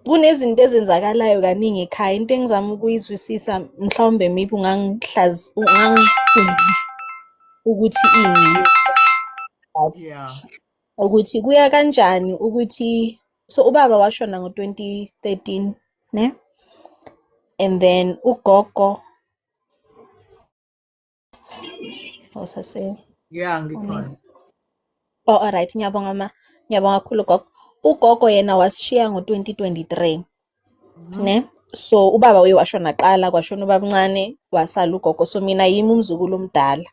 kunezinto ezenzakalayo kaningi ekhaya into engizama ukuyizwisisa mhlawumbe maybe ungangihlazi ukuthi ini ukuthi kuya kanjani ukuthi so ubaba washona ngo-2013 ne and then ugogo Osase. Oh, yeah, ngikhona. Oh, all right. Ngiyabonga ma. Ngiyabonga kakhulu gogo. Ugogo yena wasishiya ngo-2023. Mhm. Ne? So ubaba uye washona qala kwashona ubabncane wasala ugogo so mina yimi umzukulu omdala.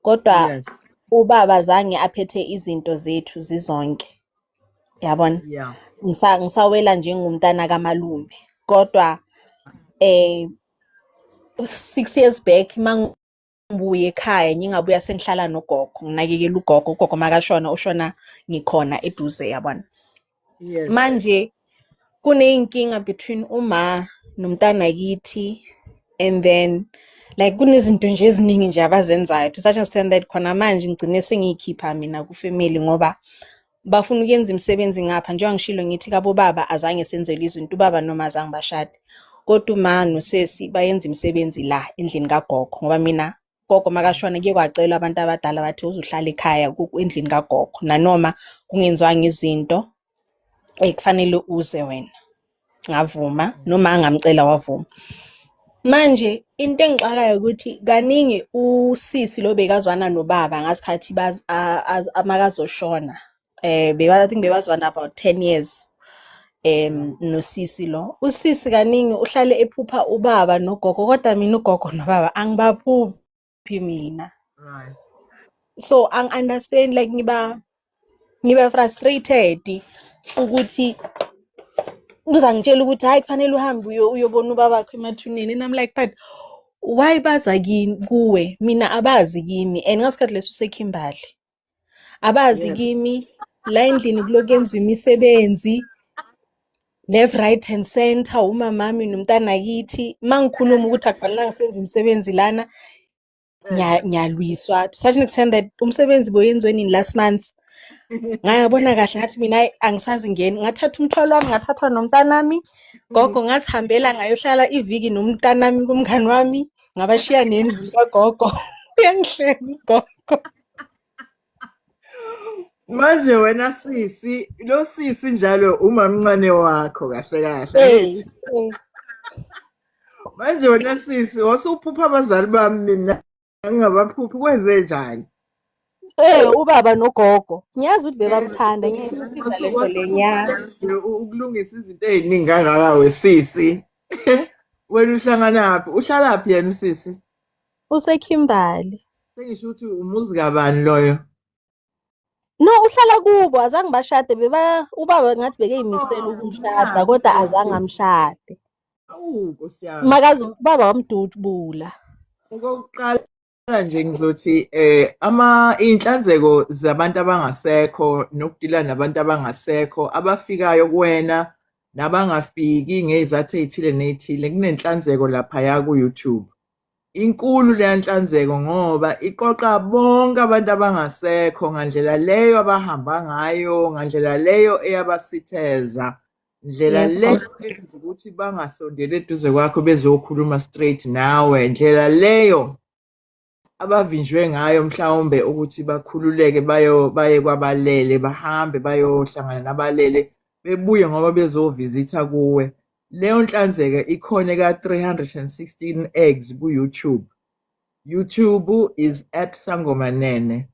Kodwa Yes. ubaba zange aphethe izinto zethu zizonke. Yabona? Yeah. Ngisa ngisawela njengomntana kamalume. Kodwa eh six years back mangibuye ekhaya ngingabuya sengihlala nogogo nginakekela ugogo ugogo makashona ushona ngikhona eduze yabona yes. manje kuneyinkinga between uma nomntana kithi and then like kunezinto nje eziningi nje abazenzayo to such extent that khona manje ngigcine sengiyikhipha mina kufamily ngoba bafuna ukuyenza imisebenzi ngapha njengoba ngishilo ngithi kabo baba azange senzelwe izinto ubaba noma azange bashade kodwa uma nosesi bayenza imisebenzi la endlini kagogo ngoba mina gogo makashona kuye kwacelwa abantu abadala bathi uzuhlala ekhaya endlini kagogo nanoma kungenziwanga izinto ekufanele uze wena ngavuma noma angamcela wavuma manje into engixakayo ukuthi kaningi usisi lo bekazwana nobaba ngasikhathi amakazoshona um i think bebazwana about ten years um nosisi lo usisi kaningi uhlale ephupha ubaba nogogo kodwa mina ugogo nobaba angibaphuphi phi mina right so ang understand like ngiba ngiba frustrated ukuthi uzangitshela ukuthi hayi kufanele uhambe uyo uyobona ubaba wakho emathuneni and I'm like but why baza kini kuwe mina abazi kimi and ngasikhathi leso usekhimbali abazi kimi la endlini kuloku yenziwa imisebenzi left right and center umamami nomntanakithi uma ngikhuluma ukuthi akufanelanga senze imisebenzi lana ngiyalwiswa to such an extent that umsebenzi boyenziwe nini last month ngayabona kahle ngathi mina angisazi ngeni ngathatha umthwalo wami ngathathwa nomntanami gogo ngasihambela ngayohlala iviki nomntanami kumngani wami ngabashiya nendlu kagogo uyangihleka ugogo manje wena sisi lo sisi njalo umamncane wakho kahle kahle manje wena sisi wasuphupha abazali bami mina ngingabaphuphi kwenze njani Eh ubaba nogogo ngiyazi ukuthi bebamthanda ngiyisisiza leso lenyanga ukulungisa izinto eziningi kangaka wesisi wena uhlanganaphi uhlalaphi yena usisi usekhimbali sengisho ukuthi umuzi kabani loyo no uhlala kubo azange bashade beba ubaba ngathi bekeyimisela oh, ukumshada kodwa azange amshade makazi ubaba wamdutshubula okokuqala nje ngizothi eh ama inhlanzeko zabantu abangasekho nokudila nabantu abangasekho abafikayo kuwena nabangafiki ngezathu ezithile nezithile kunenhlanzeko lapha ya ku YouTube Inkulu leya nhlanzeko ngoba iqoqa bonke abantu abangasekho ngandlela leyo abahamba ngayo ngandlela leyo eyabasitheza ndlela leyo eyenza ukuthi bangasondeli eduze kwakho bezokhuluma straight nawe ndlela leyo abavinjwe ngayo mhlawumbe ukuthi bakhululeke bayo baye kwabalele bahambe bayohlangana nabalele bebuye ngoba bezovisitha kuwe Leyo nhlanzeka ikhona ka 316 eggs ku YouTube. YouTube is at Sangoma Nene.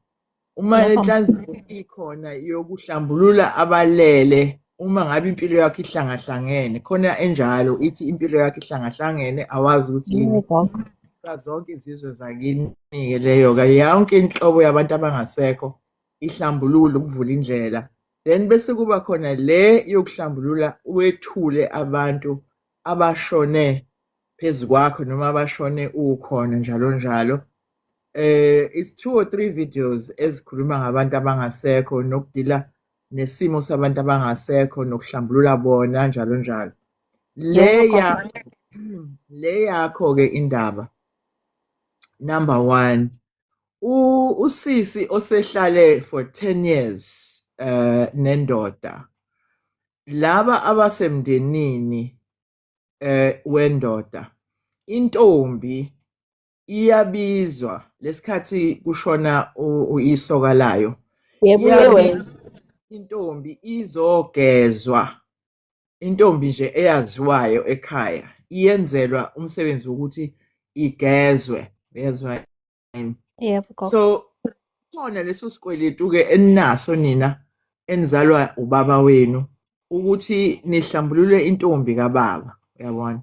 Uma lenhlanzeko ikhona yokuhlambulula abalele uma ngabe impilo yakho ihlangahlangene khona enjalo ithi impilo yakho ihlangahlangene awazi ukuthi yini zonke izizwe zakini-ke leyo-ke yonke inhlobo yabantu abangasekho ihlambululo ukuvula indlela then bese kuba khona le yokuhlambulula wethule abantu abashone phezu kwakho noma abashone ukhona njalo njalo eh is two or three videos ezikhuluma ngabantu abangasekho nokudila nesimo sabantu abangasekho nokuhlambulula bona njalo njalo leya le yakho ke indaba number 1 usisi osehlale for 10 years eh nendoda laba abasemndenini eh wendoda intombi iyabizwa lesikhathi kushona uyisoka layo yebo intombi izogezwa intombi nje eyaziwayo ekhaya iyenzelwa umsebenzi wokuthi igezwe bezwa yini yebo so khona leso sikweletu ke eninaso nina enizalwa ubaba wenu ukuthi nihlambulule intombi kababa uyabona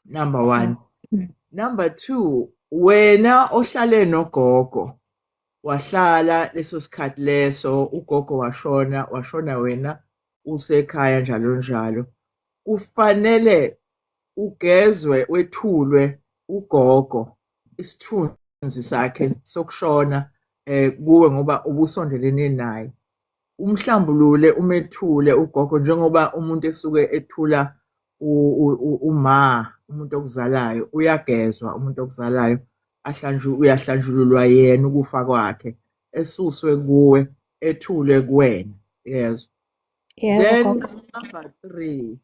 number one mm. number two wena ohlale nogogo wahlala leso sikhathi leso ugogo washona washona wena usekhaya njalo njalo kufanele ugezwe wethulwe ugogo isithunzi sakhe sokushona eh kuwe ngoba ubusondelene naye umhlambulule umethule ugogo njengoba umuntu esuke ethula uma umuntu okuzalayo uyagezwa umuntu okuzalayo ahlanjwe uyahlanjululwa yena ukufa kwakhe esuswe kuwe ethule kuwena yezwa then number 3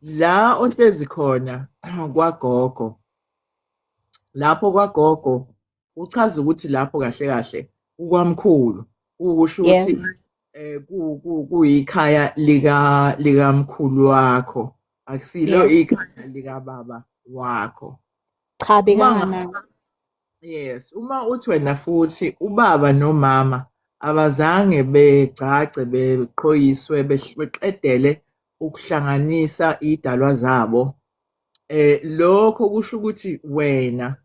la ohlezi khona kwagogo lapho kwagogo uchaza ukuthi lapho kahle kahle kukwamkhulu ukusho ukuthi eh kuyikhaya lika likamkhulu wakho akusilo ikhaya lika baba wakho cha bekana yes uma uthi wena futhi ubaba nomama abazange begcagce beqhoyiswe beqedele ukuhlanganisa idalwa zabo eh lokho kusho ukuthi wena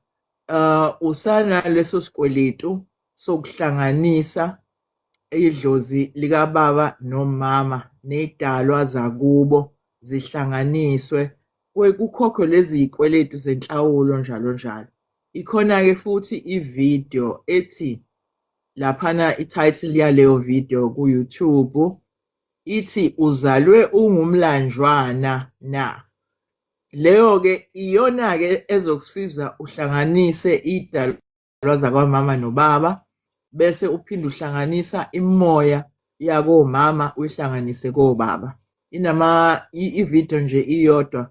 uh, usanaleso sikweletu sokuhlanganisa idlozi likababa nomama nedalwa zakubo zihlanganiswe kukhokhwe lezi zikweletu zenhlawulo njalo njalo ikhona-ke futhi ividiyo ethi laphana i-title yaleyo video ku-youtube ithi uzalwe ungumlanjwana na Leyo-ke iyona-ke ezokusiza uhlanganise iy'dalwa zakwamama nobaba bese uphinde uhlanganisa imimoya yakomama uyihlanganise kobaba. Inama i-video nje iyodwa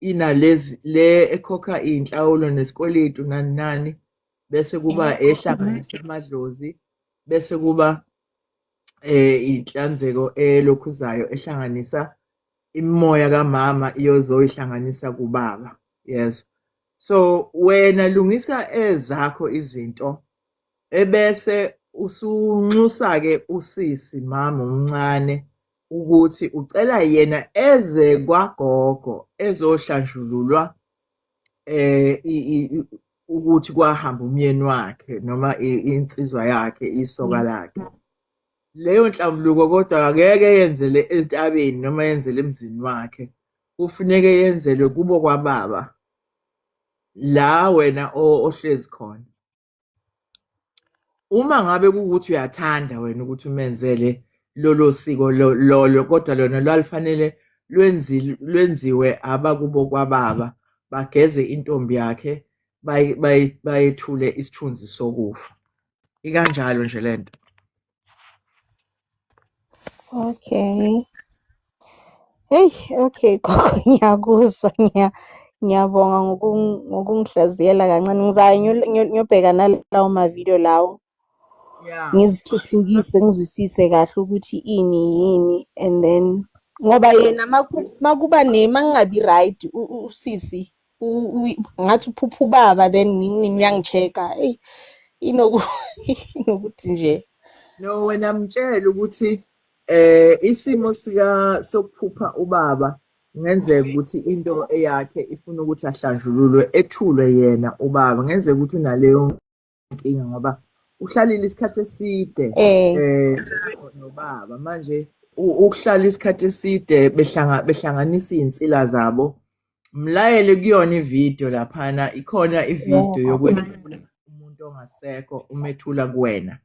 inalezi le ekhokha iy'nhlawulo nesikweletu nani nani bese kuba ehlanganisa amadlozi bese kuba eh inhlanzeko elokhuzayo ehlanganisa imimoya kamama iyozoyihlanganisa kubaba yezwa so wena lungisa ezakho izinto ebese usunxusa-ke usisi mama omncane ukuthi ucela yena eze kwagogo ezohlanjululwa eh ukuthi kwahamba umyeni wakhe noma insizwa yakhe isoka mm. lakhe leyo nhlambuluko kodwa akeke yenzele entabeni noma yenzele emzini wakhe kufuneke yenzelwe kubo kwababa la wena ohlezi khona uma ngabe kuwukuthi uyathanda wena ukuthi umenzele lolo siko lolo kodwa lona lwalifanele lwenziwe abakubo kwababa bageze intombi yakhe bayethule isithunzi sokufa ikanjalo nje lento okay hey okay gogo ngiyakuzwa ngiya ngiyabonga ngokungihlaziyela kancane ngizayo ngiyobheka nalawo mavidiyo lawo ngizithuthukise ngizwisise kahle ukuthi ini yini and then ngoba yena makuba ne mangingabi right usisi ngathi uphupha ubaba then ngiyangichecka eyi inokuthi nje no wena mtshele ukuthi eh isimo sika sokuphupha ubaba ngenzeka ukuthi into eyakhe ifuna ukuthi ahlanjululwe ethulwe yena ubaba ngenzeka ukuthi unaleyo inkinga ngoba uhlalile isikhathi eside eh, eh nobaba manje ukuhlala isikhathi eside behlanga behlanganisa izinsila zabo mlayele kuyona ivideo laphana ikhona ivideo yokwethula umuntu ongasekho umethula kuwena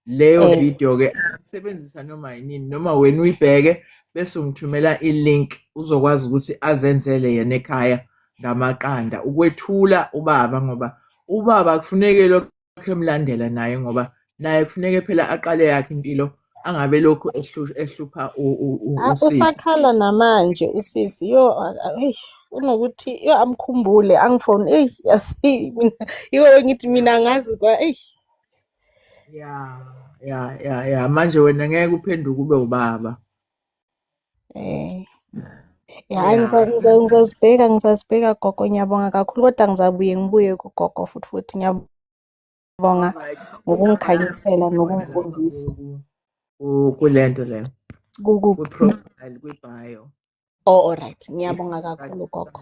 leyo Eh. video ke sebenzisa noma yini noma wena uyibheke bese ungithumela i-link uzokwazi ukuthi azenzele yena ekhaya ngamaqanda ukwethula ubaba ngoba ubaba kufuneke lokho emlandela naye ngoba naye kufuneke phela aqale yakhe impilo angabe lokhu ehlu- ehlupha u- u- u- Ah, usisi usakhala namanje usisi yo ah, ah, eish, unokuthi yo amkhumbule angifone eyi yasi mina yiko bengithi mina ngazi kwa eyi ya ya ya ya manje wena ngeke uphenduke ube ubaba eh ya ngizazibheka ngizazibheka gogo ngiyabonga kakhulu kodwa ngizabuye ngibuye kugogo futhi futhi ngiyabonga ngokungikhanyisela nokungifundisa kule nto leyo kwi-profile kwi-bio oh all right ngiyabonga kakhulu gogo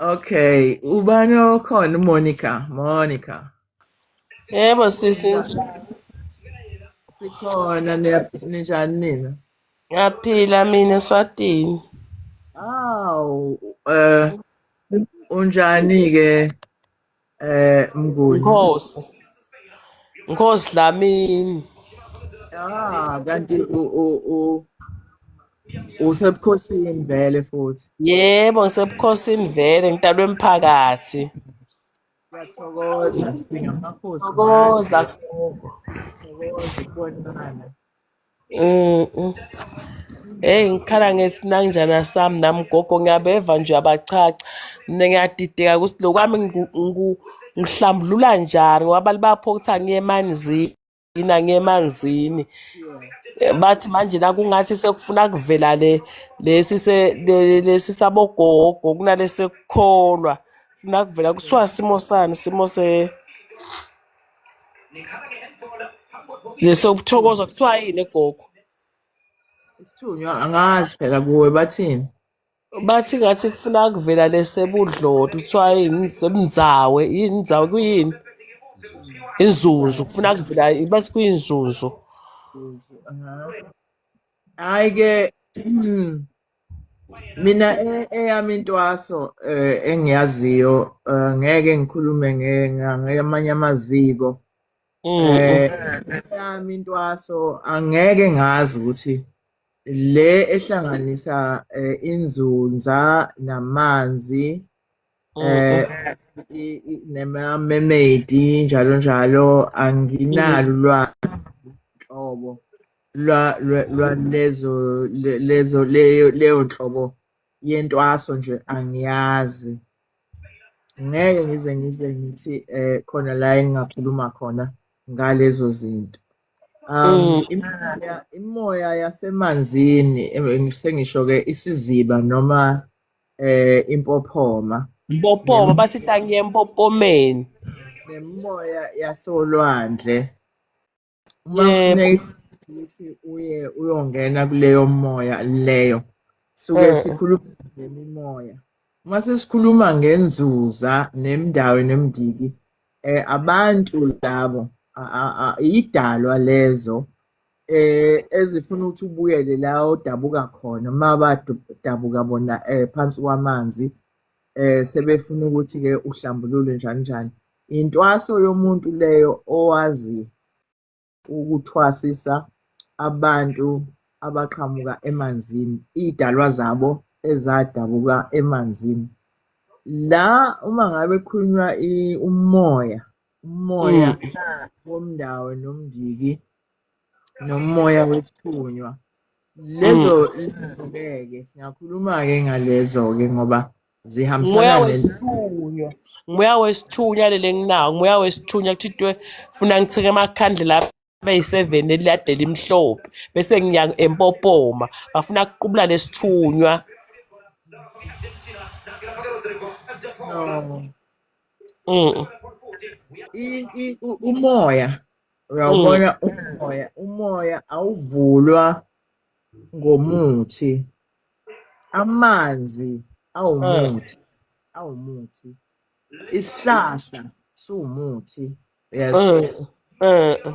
Okay, ubani okhona Monica, Monica. Yebo sisi Sikhona niya- ninjani nina? ngiyaphila mina eSwatini. Aw, eh unjani ke Eh mnguni. Nkosi. Nkosi Dlamini. Ah kanti u u u usebukhosini vele futhi. Yebo ngisebukhosini vele ngitalwe emphakathi. Siyathokoza sibingamakhosi. Thokoza. Thokoza ukubonana. Mm, mm. Hey ngikhala ngesinanjana sami nami gogo ngiyabeva nje abachacha. Mina ngiyadideka ukuthi lokwami ngiku- ngiku- ngihlambulula njani ngoba abantu bapho ukuthi angiye emanzini angiye emanzini. Eh, Bathi manje nakungathi sekufuna kuvela le lesi se le- lesi sabogogo kunalesi sekukholwa. Funa kuvela kuthiwa simo sani simo se Nesokuthokoza kuthiwa yini egogo? Isithunywa angazi phela kuwe bathini. Bathi ngathi kufuna kuvela lesebudloti kuthiwa yini sebunzawe yini nzawe kuyini? Inzuzu kufuna kuvela bathi kuyinzuzu. Hayi ke mina e, eyami intwaso eh, engiyaziyo eh, ngeke ngikhulume ngamanye amaziko mm, mm. Eh, eyami intwaso angeke ngazi ukuthi le ehlanganisa inzunza namanzi Oh, eh nema-mermaid-i njalo njalo anginalo ulwazi nhlobo lwalezo lezo leyo leyo nhlobo yentwaso nje angiyazi ngeke ngize ngize ngithi eh khona la engingakhuluma khona ngalezo zinto um mm. imimoya imimoya yasemanzini eh, sengisho ke isiziba noma eh impophoma mpophoma basitangiye empopomeni nemimoya yasolwandle uma ukuthi uye uyongena kuleyo moya leyo suke eh. sikhuluma ngemimoya uma sesikhuluma ngenzuza nemndawo nemndiki eh abantu labo idalwa lezo eh ezifuna ukuthi ubuyele la odabuka khona uma badabuka bona eh phansi kwamanzi eh sebefuna ukuthi ke uhlambulule njani njani intwaso yomuntu leyo owazi ukuthwasisa abantu abaqhamuka emanzini idalwa zabo ezadabuka emanzini la uma ngabe kukhulunywa umoya umoya mm. womndawo nomndiki nomoya wesithunywa lezo ngeke mm. singakhuluma ke ngalezo ke ngoba zihambisana wesithunywa moya wesithunywa lele nginawo moya wesithunywa kuthiwe funa ngithike amakhandlela beyi-seven elilade limhlophe bese ngiya empopoma bafuna kuqubula lesithunywa Mm. umoya uyawubona mm. umoya umoya awuvulwa ngomuthi amanzi awumuthi mm. awumuthi isihlahla siwumuthi yes mm, mm.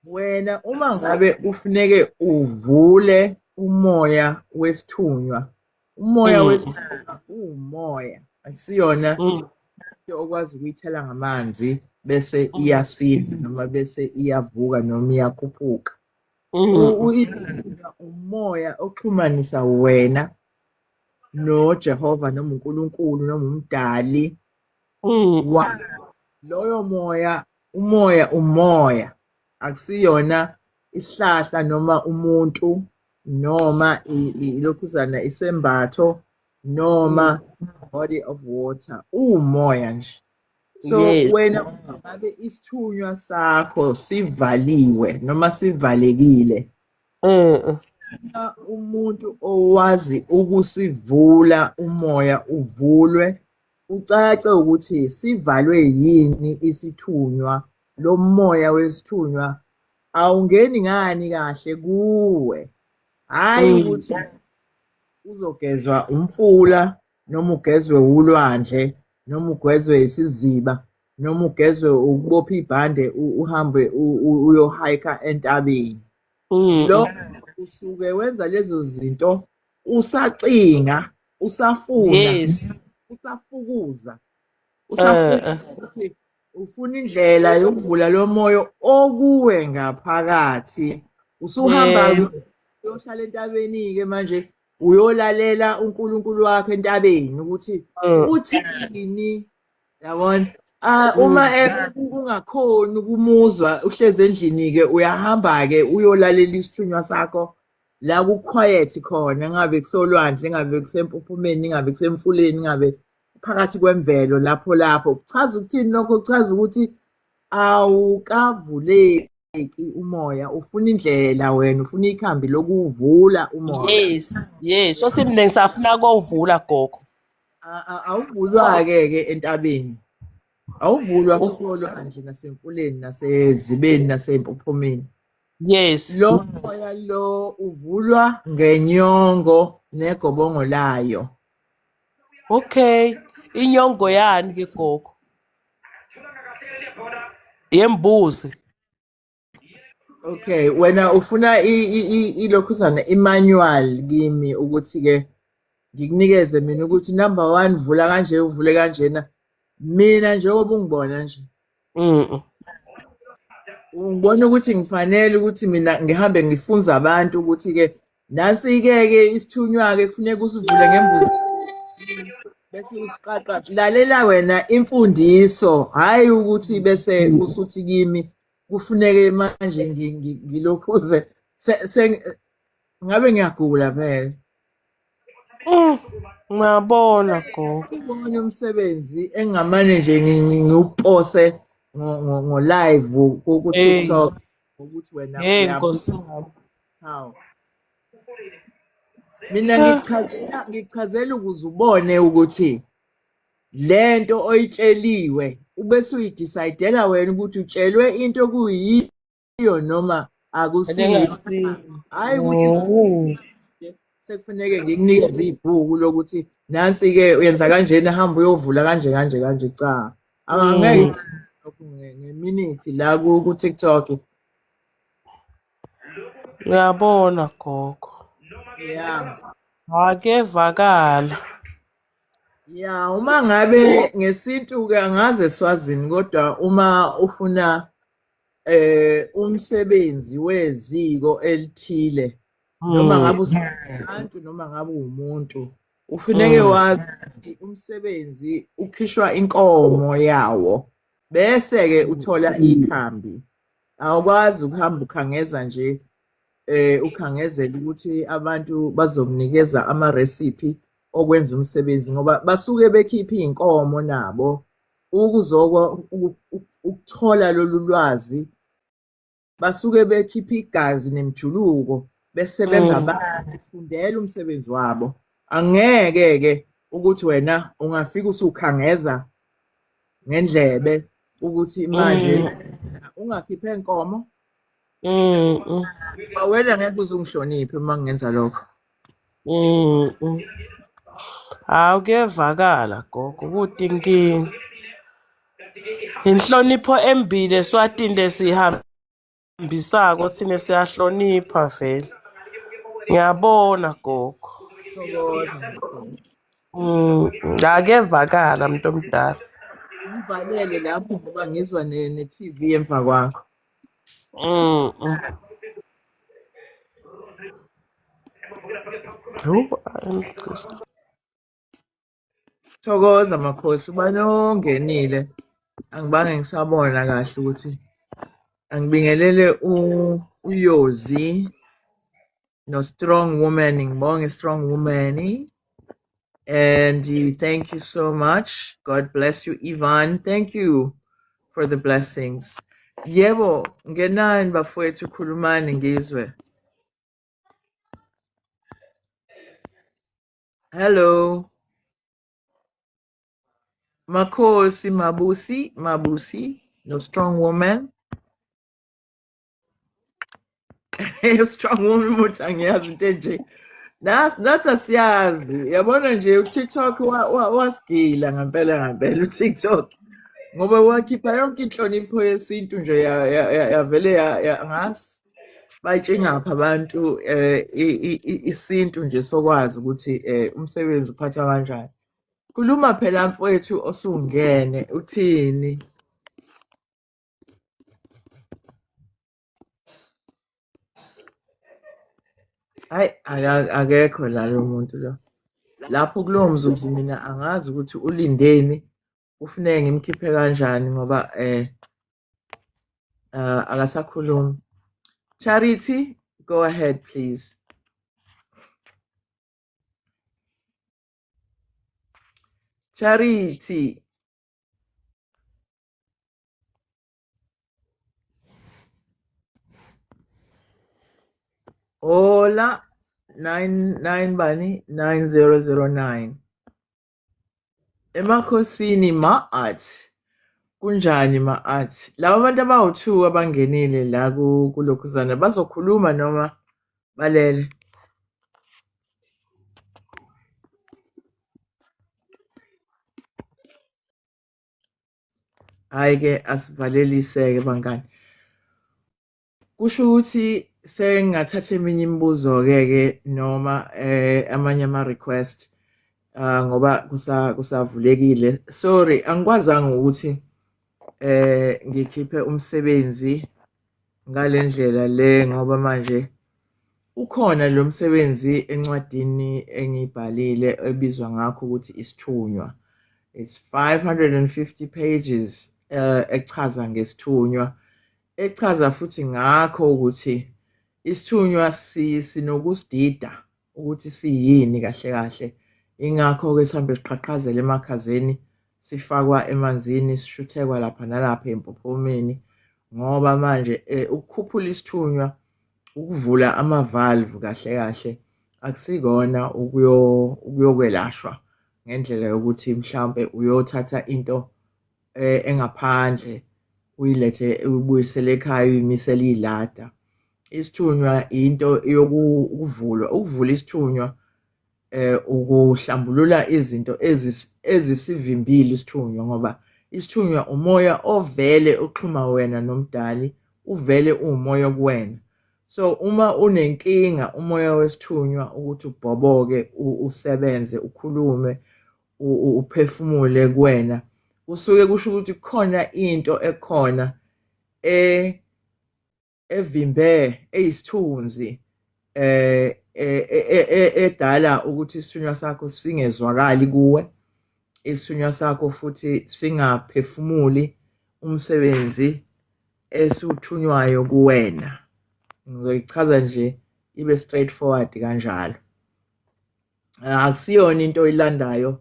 wena uma ngabe ufuneke uvule umoya wesithunywa umoya mm. wesithunywa uwumoya akusiyona mm. into okwazi ukuyithela ngamanzi bese mm. iyasila noma bese iyavuka noma iyakhuphuka mm. umoya oxhumanisa wena noJehova noma uNkulunkulu noma umdali mm. wa loyo moya umoya umoya akusiyona isihlahla noma umuntu noma ilokhuzana isembatho noma mm. body of water umoya nje so yes. wena ngabe isithunywa sakho sivaliwe noma sivalekile Eh umuntu owazi ukusivula umoya uvulwe ucace ukuthi sivalwe yini isithunywa lo moya wesithunywa awungeni ngani kahle kuwe hayi mm. ukuthi uzogezwa umfula noma ugezwe ulwandle noma ugezwe isiziba noma ugezwe ukubopha ibhande uhambe uyohayika entabeni mm. lo usuke wenza lezo zinto usacinga usafuna yes. usafukuza usafukuza eh, eh. ukuthi ufuna indlela yokuvula lo moyo okuwe ngaphakathi usuhamba uyohlala entabeni-ke manje uyolalela unkulunkulu wakho entabeni ukuthi eh. uthini yabona Ah uma kungakhona ukumuzwa uhlezi endlini ke uyahamba ke uyolalela isithunywa sakho la ku quiet khona ngabe kusolwandle ngabe kusempuphumeni ngabe kusemfuleni ngabe phakathi kwemvelo lapho lapho kuchaza ukuthini lokho kuchaza ukuthi awukavuleki umoya ufuna indlela wena ufuna ikhambi lokuvula umoya yes yes sosimningi safuna kovula gogo awuvulwa-ke ke entabeni awuvulwa kusolwa nje nasemfuleni nasezibeni nasempophomeni yes lo moya lo uvulwa ngenyongo negobongo layo okay inyongo yani ke gogo yembuzi Okay, wena ufuna ilokhuzana i-manual kimi ukuthi ke ngikunikeze mina ukuthi number one vula kanje uvule kanjena mina njengoba ungibona nje mhm ngibona ukuthi ngifanele ukuthi mina ngihambe ngifunza abantu ukuthi ke nansi ke ke isithunywa ke kufuneka usivule ngembuzi bese usiqaqa lalela wena imfundiso hayi ukuthi bese usuthi kimi kufuneke manje ngilokhuze ngabe ngiyagula phela mm, ngiyabona gogo ubone umsebenzi engingamane nje ngiwupose ngo-live ku-tiktok ukuthi wena hey nkosi haw mina ngichazela ngichazela ukuze ubone ukuthi lento oyitsheliwe ubese uyidecidela wena ukuthi utshelwe into okuyiyo noma akusiyo hayi ukuthi mm. sekufuneke ngikunikeze ibhuku lokuthi nansi ke uyenza kanjena hamba uyovula kanje kanje kanje cha angeke mm. lokhu ngeminithi la ku TikTok uyabona gogo yeah akevakala ya uma ngabe ngesintu-ke angaze swazini kodwa uma ufuna eh umsebenzi weziko elithile noma ngabe hmm. usabantu noma ngabe umuntu ufuneke hmm. wazi ukuthi umsebenzi ukhishwa inkomo yawo bese-ke uthola ikhambi awukwazi ukuhamba ukhangeza nje eh ukhangezela ukuthi abantu bazomnikeza ama recipe okwenza umsebenzi ngoba basuke bekhipha izinkomo nabo ukuzokwa ukuthola lolu lwazi basuke bekhipha igazi nemjuluko besebenza mm. bafundela umsebenzi wabo angeke ke ukuthi wena ungafika usukhangeza ngendlebe ukuthi manje mm. ungakhiphe inkomo Mm. mm. Awena ngeke uzungihloniphe uma ngenza lokho. Mm. mm. Hawu kuyevakala gogo ukuthi inkinga. Inhlonipho embile swatini lesihambisako thina siyahlonipha vele. Ngiyabona gogo. Mm, ngakevakala mntu omdala. Ngivalele lapho ngoba ngizwa ne-TV emva kwakho. Mm, mm. Thokoza makhosi ubani ongenile angibange ngisabona kahle ukuthi angibingelele uyozi no strong woman ngibonge strong woman and you, thank you so much god bless you ivan thank you for the blessings yebo ngenani bafowethu khulumani ngizwe hello Makosi Mabusi, Mabusi, no strong woman. you strong woman ukuthi angiyazi into enje Nas nathi asiyazi yabona nje uTikTok wasigila ngempela ngempela uTikTok ngoba wakhipha yonke inhlonipho yesintu nje yavele ngasi bayitshingapha abantu eh, isintu nje sokwazi ukuthi eh, umsebenzi uphathwa kanjani khuluma phela mfowethu osungene uthini Hayi aka- akekho la lo muntu lo. Lapho kulowo mzuzu mina angazi ukuthi ulindeni ufuneke ngimkhiphe kanjani ngoba eh uh, akasakhulumi. Charity, go ahead please. Charity. Hola, 99 bani 9009 emakhosini ma-art kunjani ma-art laba bantu abawu-two abangenile la kulokhuzana bazokhuluma noma balele hhayi ke asivalelise-ke bangani kusho ukuthi sengingathatha eminye imibuzo-ke ke noma eh, amanye ama-request uh, ngoba kusavulekile kusa sorry angikwazanga ukuthi eh ngikhiphe umsebenzi ngale ndlela le ngoba manje ukhona lo msebenzi encwadini engiyibhalile ebizwa ngakho ukuthi isithunywa it's 550 pages uh, echaza ngesithunywa echaza futhi ngakho ukuthi isithunywa sinokusidida ukuthi siyini kahle kahle ingakho-ke sihambe siqhaqhazela emakhazeni sifakwa emanzini sishuthekwa lapha nalapha empophomeni ngoba manje eh, ukukhuphula isithunywa ukuvula amavalve kahle kahle akusikona ukuyokwelashwa ngendlela yokuthi mhlawumbe uyothatha into eh, engaphandle uyilethe ubuyisele ekhaya uyimisele iyilada isithunywa into yokuvulwa ukuvula isithunywa eh ukuhlambulula izinto ezisivimbile isithunywa ngoba isithunywa umoya ovele oxhuma wena nomdali uvele uwumoya kuwena so uma unenkinga umoya wesithunywa ukuthi ubhoboke usebenze ukhulume uphefumule kuwena kusuke kusho ukuthi kukhona into ekhona e evimbe eyisithunzi eh edala ukuthi isithunywa sakho singezwakali kuwe isithunywa sakho futhi singaphefumuli umsebenzi esiwuthunywayo kuwena ngizoyichaza nje ibe straight forward kanjalo akusiyona into oyilandayo